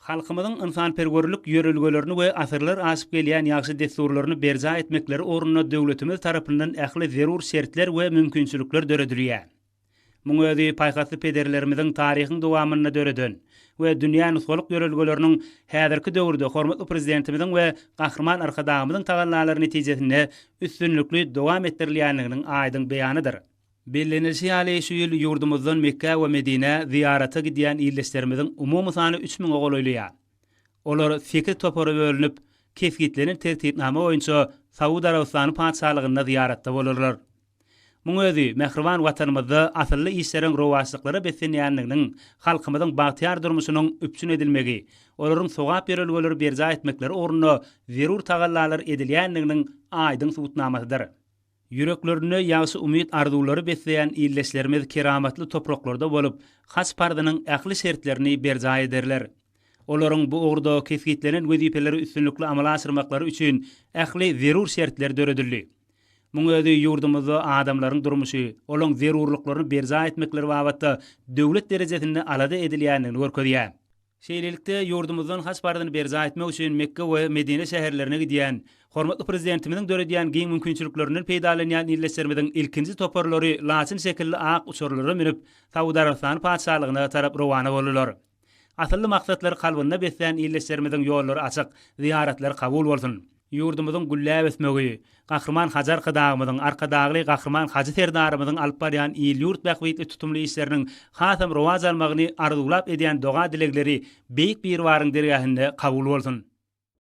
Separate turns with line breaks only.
Halkymyzyň ynsanperwerlik ýörelgelerini we asyrlar aşyp gelýän ýagşy dessurlaryny berjaý etmekleri ugrunda döwletimiz tarapyndan ähli zerur şertler we mümkinçilikler döredilýär. Muň özi paýhasly pederlerimiziň taryhyň dowamynda döreden we dünýä nusgalyk ýörelgeleriniň häzirki döwürde hormatly Prezidentimiziň we Gahryman Arkadagymyzyň tagallalary netijesinde üstünlikli dowam etdirilýändiginiň aýdyň beýanydyr. Bellenilişi ýaly, şu ýyl ýurdumyzdan Mekgä we Medinä zyýarata gidýän ildeşlerimiziň umumy sany üç müňe golaýlaýar. Olar sekiz topara bölünip, kesgitlenen tertipnama boýunça Saud Arabystany Patyşalygynda zyýaratda bolarlar. Muň özi mähriban Watanymyzda asylly işleriň rowaçlyklara beslenýändiginiň, halkymyzyň bagtyýar durmuşynyň üpjün edilmegi, olaryň sogap ýörelgeleri berjaý etmekleri ugrunda zerur tagallalar edilýändiginiň aýdyň subutnamasydyr. Ýüreklerinde ýagşy umyt-arzuwlary besleýän ildeşlerimiz keramatly topraklarda bolup, haç parzynyň ähli şertlerini berjaý ederler. Olaryň bu ugurda kesgitlenen wezipeleri üstünlikli amala aşyrmaklary üçin ähli zerur şertler döredildi. Muň özi ýurdumyzda adamlaryň durmuşy, olaň zerurlyklaryny berjaý etmekleri babatda döwlet derejesinde alada edilýändigini görkezýär. Şeýlelikde, ýurdumyzdan Haç parzyny berjaý etmek üçin Mekge we Medine şäherlerine gidýän, hormatly Prezidentimiziň döredýän giň mümkinçiliklerinden peýdalanýan ildeşlerimiziň ilkinji toparlary laçyn şekilli ak uçarlara münüp, Saud Arabystany Patyşalygyna tarap rowana boldular. Asylly maksatlary kalbynda beslän ildeşlerimiziň ýollary açyk, zyýaratlary kabul bolsun! Ýurdumyzyň gülläp ösmegi, Gahryman Hajy Arkadagymyzyň, Arkadagly Gahryman Hajy Serdarymyzyň alyp barýan il-ýurt bähbitli tutumly işleriniň hasam rowaç almagyny arzuwlap edýän doga-dilegleri Beýik Biribaryň dergähinde kabul bolsun!